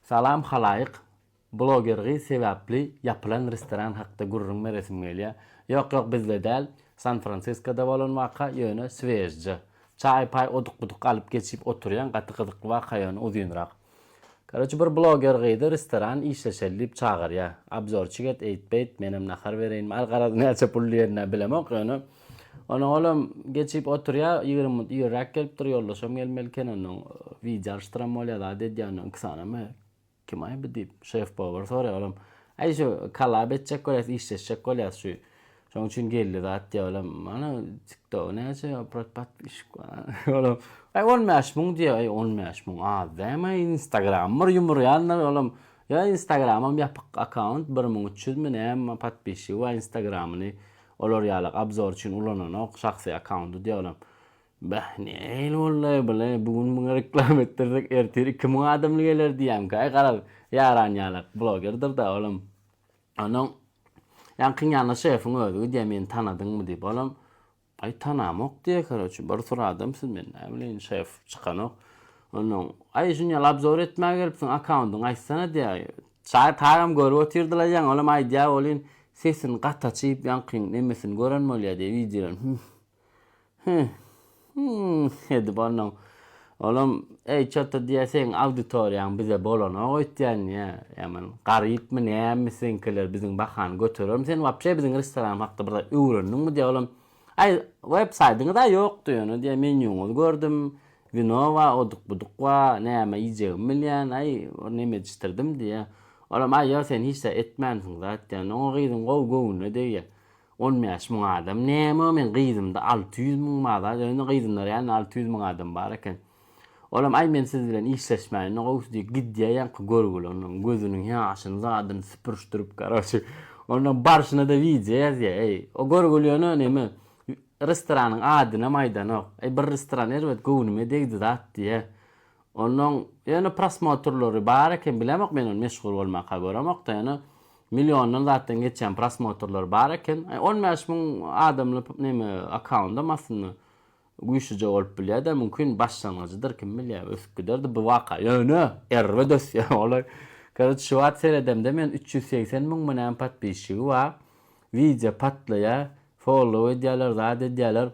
Salam halaýyk bloger gyz sebapli ýapylan restoran hakda gürrüň beresim gelýä ýok ýok bizde däl San Fransiskoda bolan waka ýöne swejja çaý paý oduk buduk alyp geçip oturýaň gaty gyzykly waka ýöne uzynrak karoçe bir bloger gyzy restoran işleşeli diýip çagyrýa abzorçik et eýt beýt menem nahar bereýinmi al garaz näçe pul diýenini bilemok ýöne Ony olam geçip oturýa, ýigrimi minut irräk gelipdir, ýoldaşam gelmeli eken, ondan wideo alyşdyram bolýa zat edýä, ondan iki sany me. Kim aý bu diýip, şef-powary soraýa, olam, Aý şu kolab etjek bolýas, işleşjek bolýas şu. Şonuň üçin geldi zat diýä, olam, Mana TikTogy näçe prod podpişik bar. Olam, Aý on bäş müň diýä, Aý on bäş müň az dämi, aý Instagram bir ýumurýandyr, olam, Ýa Instagramam ýapyk akkaunt, bir müň üç ýüzmi näme podpişigi bar Instagramyny Olar ýaly obzor üçin ulananok şahsy akkaundy diýalam. Bäh nähili boldaý bule bu gün muňa reklama etdirsek ertir iki müň adamly geler diýýämkaý garaz ýaran ýalak blogerdirda olam onnoň ýaňkyň ýanyna şefiň özi gidýär meni tanadyňmy diýip olam aý tanamok diýýär karoçe bir sur adam siz men näbileýin şef çykanok onnoň aý şuny ýaly obzor etmä gelipsiň akkaundyňy aýtsana diýýär Çaýy tagam görüp otyrdylar ýaňy olam aýdýa bolyn sesin gaty açyp ýaňkyň nemesini gören bolýa diýip wideodan hüh hüh hüh edip onnoň olam eý çota diýýä seň auditoriýaň bize bolanok öýtýän diýýä ýaman garypmy nämi seňkiler biziň bahany göterermi sen wapşe biziň restoranymyz hakda bir zat öwrendiňmi diýýä olam Aý, websaýdyňyz-a ýokdy ýöne diýä, menýuňyzy gördüm, wino bar, oduk-buduk bar, näme iýjegimi bilýän, aý, bir neme edişdirdim diýä. Olam, aý, ýa sen hiç zat etmänsiň zat diýen. Oňa gyzyň gowy göwnüne degýä. On bäş müň adam näme, men gyzymda alty ýüz müň bar zat, ýöne gyzymda reálny alty ýüz müň adam bar eken. Olam aý men siz bilen işleşmäýin no gowusy diýip gidýä ýaňky görgüli ondan gözüniň ýaşyny zadyny süpürişdirip karoçi ondan barşynada wideo ýazýa eý o görgüli ýöne neme restoranyň adynam aýdanok eý bir restoran erbet göwnüme degdi zat diýä ondan ýöne prosmotrlary bar eken bilemok men ony meşhur bolmaka göremokda ýöne miliondan zatdan geçýän prosmotrlary bar eken aý on bäş müň adamly neme akkauntdam aslynda Güýçlüje bolup bilýär-de, mümkin, başlangyjydyr, kim bilýär, ösüp giderdi bu waka. Ýöne, erbet ösýär olar. Karoç, şu wagt seredemde men üç ýüz segsen müň mü näme podpisçigi bar. Wideo patlaýar, follow edýärler, zat edýärler.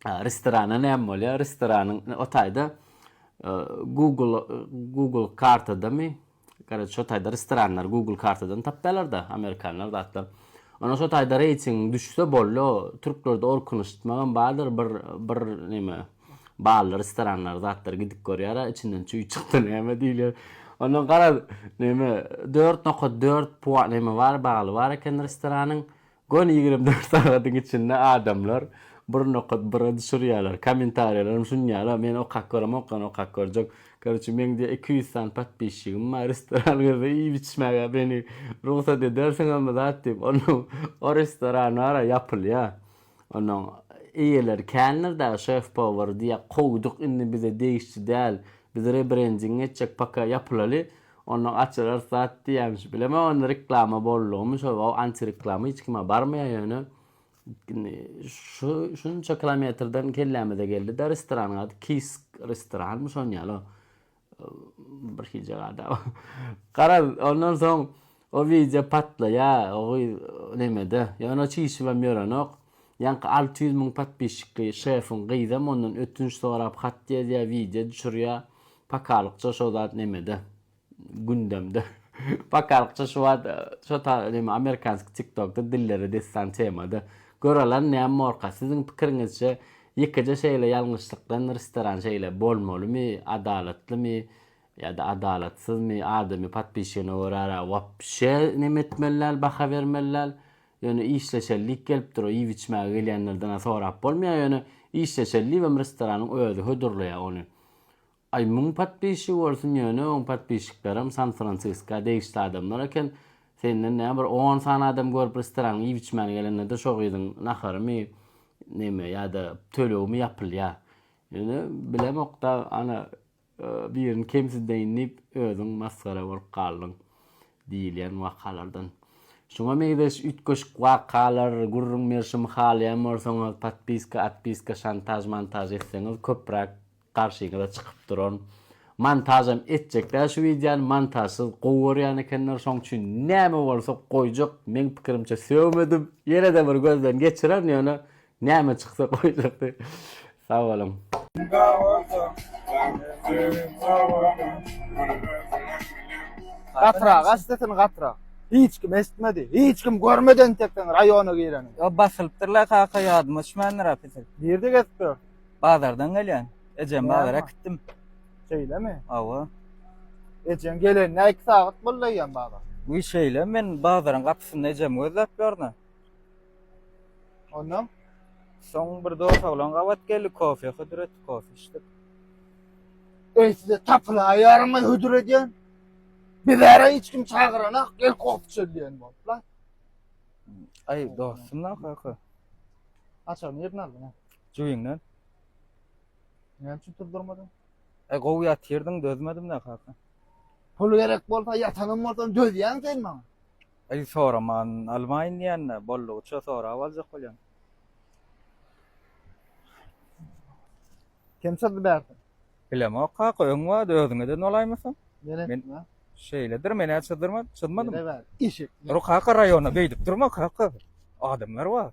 Restorana näme bolýar? Restoranyň o taýda Google Google kartadamy? Garaz şo taýda restoranlary google kartadan tapýalarda amerikanlar zatlar. Ondan şo taýda reýtingiň düşse bollo türklerde orkanyştmagam bardyr bir bir neme bally restoranlary zatlar gidip görýara içinden çüý çykdy näme diýilýär. Ondan garaz neme dört nokat dört puan neme bar bally bar eken restoranyň Göni ýigrimi dört sagadyň içinde adamlar bir nokat bira düşürýärler. Kommentariýalarym şunýala, men okap görem okan okap görjek. Karoçe meň diýe iki ýüz sany podpisçigim bar, restoran girse iýip içmäge meni rugsat edersiňizmi zat diýip. Onuň o restoran bara ýapylýa. Onuň eýeleri kändir dagy şef powary diýýä, kowduk indi bize degişli däl. Biz rebrending etjek paka ýapylaly. Onda gaçyrar zat diýýämiş bilemok onda reklama boldugymy şol waw antireklama hiç kime barmaýar ýöne indi şu şunça kilometrden kellämize geldida restoranyň ady Kisk restoranmy şon ýaly bir hilje gada garaz ondan soň O wideo patlaýa o gyz nemede ýöne çişibem ýörenok ýaňky alty ýüz müň podpisçikli şefiň gyzam ondan ötünç sorap hat ýazýa wideo düşürýa pakalykça şo zat nemede gündemde pakalykça şu wagt şo ta neme amerikanski tiktokda dillere dessan temada göralan näm morka siziň pikiriňizçe ýekeje şeýle ýalňyşlykdan restoran şeýle bolmalymy adalatlymy Ýa-da adalatsyzmy, adamy podpişigine görä-ra wapşe neme etmeli däl, baha bermeli däl. Ýöne işleşeli diýip gelipdir, o iýip-içmäge gelýänlerden-ä sorap bolmaýar, ýöne işleşeli diýibem restoranyň özi hödürleýär ony. Aý, müň podpişigi bolsun, ýöne oň podpişiklerem San-Fransiska degişli adamlar eken. Senden näme bir on sany adam görüp restoranyň iýip-içmäne gelende-de şo gyzyň naharymy, neme, ýa-da tölegimi ýapylýar. Ýöne bilemok-da, ana, Birini kemsidäýin diýip, özüň masgara bolup galdyň diýilýän wakalardan. Şuňa meňzeş üýtgeşik wakalar, gürrüň berşimi halaýan bolsaňyz, podpiska, otpiska, şantaž, montaž etseňiz köpräk garşyňyza çykyp duran. Montažam etjek däl şu wideony, montažsyz gowy görýän ekenler, şoň üçin näme bolsa goýjak, meň pikirimçe sögmedim. Ýene-de bir gözden geçirerin, ýöne Näme çyksa goýjakdy. Sag boluň. Gatyrak aç sesini gatyrak. Hiç kim eşitmedi, hiç kim görmedi entek seň raýona gireniňi. Ýa basylypdyr la kaka ýadyma düşmändir apysyl. Nirde gezip dur? Bazardan gelýän. Ejem bazara äkitdim. Şeýlemi? Hawa. Ejeň gelenine iki sagat boldy eýýäm bazar. Wiý şeýle men bazaryň gapysynda ejemi gözläp ýörün. Ondan soň bir dos oglan gabat geldi, kofe hödür etdi, kofe içdik. Eý, size tapylaýarmy hödür edýän? Bizara hiç kim çagyranak, gel kofe içeli diýen boluplar. Aý, dostum-la kaka. Açar nirden aldyň? Jübiňden. Näme üçin turdurmadyň? E, gowy ýatyrdyň, dözmedim-de kaka. Pul gerek bolsa, ýatanam bolsam dözýäň sen maňa. Eý soraman almaýyn diýende boldugyça sorap aljak bolýan. Kim syzdy bärde? Bilemok kaka öň wagt özüňeden bolaýmasam. Mene. Şeýledir menä çyzdyrma çyzmadym. Eşek. Dur kaka raýona beýdip durma kaka. Adamlar bar.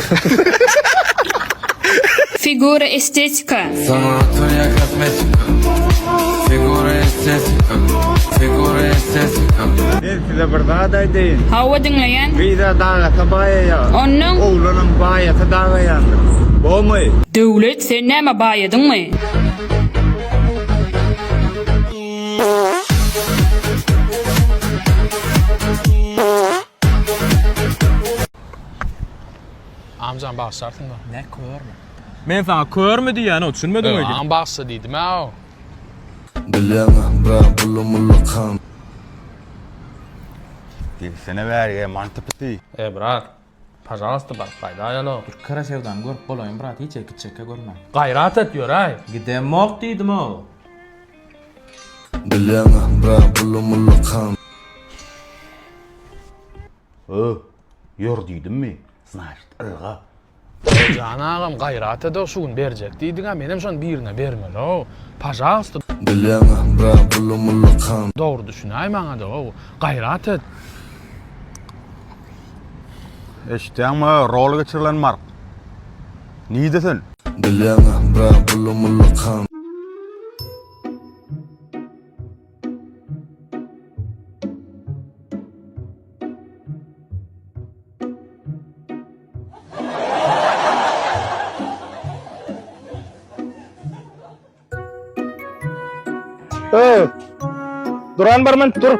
Figura estetika. Sanatoria kosmetika. Figura estetika. Figura estetika. Men size bir zat aýdaýyn. Hawa diňleýän. Gyza dagasa baýaýa. Onnoň. Oglanam baýasa dagaýandyr. Bomy. Döwlet sen näme baýadyňmy. Amjan bagşarsyň da. Ne körmi? Men sana körmi diýýän o düşünmediň öýdýän. Aň bagşy diýdim a. Bilýäňä bra buly muly kan. Girsene bärige manty piti. Eý brat pažalasta baryp gaýda ýala. Bir kara sevdany görüp bolaýmy brat hiç eki çeke görme. Gaýrat et ýöräý. Gidemok diýdim o. Bilýäňä bra buly muly kan. Öh, ýör diýdimmi, znaşit, ylga. Jan agam gaýrat ede şu gün berjek diýdiňä menem şony birine bermeliow pažalsta. Bilýäňä bra bulu mulla kan. Dogry düşünäý maňada ow gaýrat et. Eşitýäňmi rol geçirilen mark. Nide sen. Bilýäňä bra bulu mulla kan. Öý! Duran barman dur!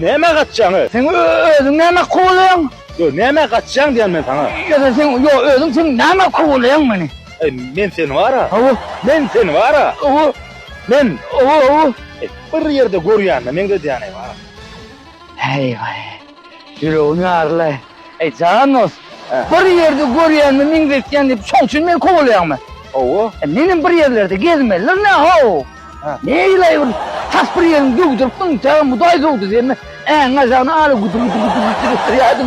Nämä gaçjaň-y? Sen özüň nämä kowalaýaň? Ýok, nämä gaçjaň diýýän men saňa. Ýa-da sen, ýok, özüň sen nämä kowalaýaň meni? Eý, men seni bar-a. Hawa. Men seni bar-a. Hawa. Men. Hawa, hawa. Eý, bir ýerde görýänime meňzedýäň-eý, bar-a. Heý, baý. Ýüregim ýaryl-aý. Eý, jan dost, bir ýerde görýänimi meňzetýän diýip, şoň üçin meni kowalaýaňmy? Hawa. Menem bir ýerlerde gezmelidir nä-how? Neýle bir tas bir ýerini döwdürip, ynha, mudaý döwdürdimi? Äňňä jagyny ala güdür-güdür-güdür-güdür etdirýärdim.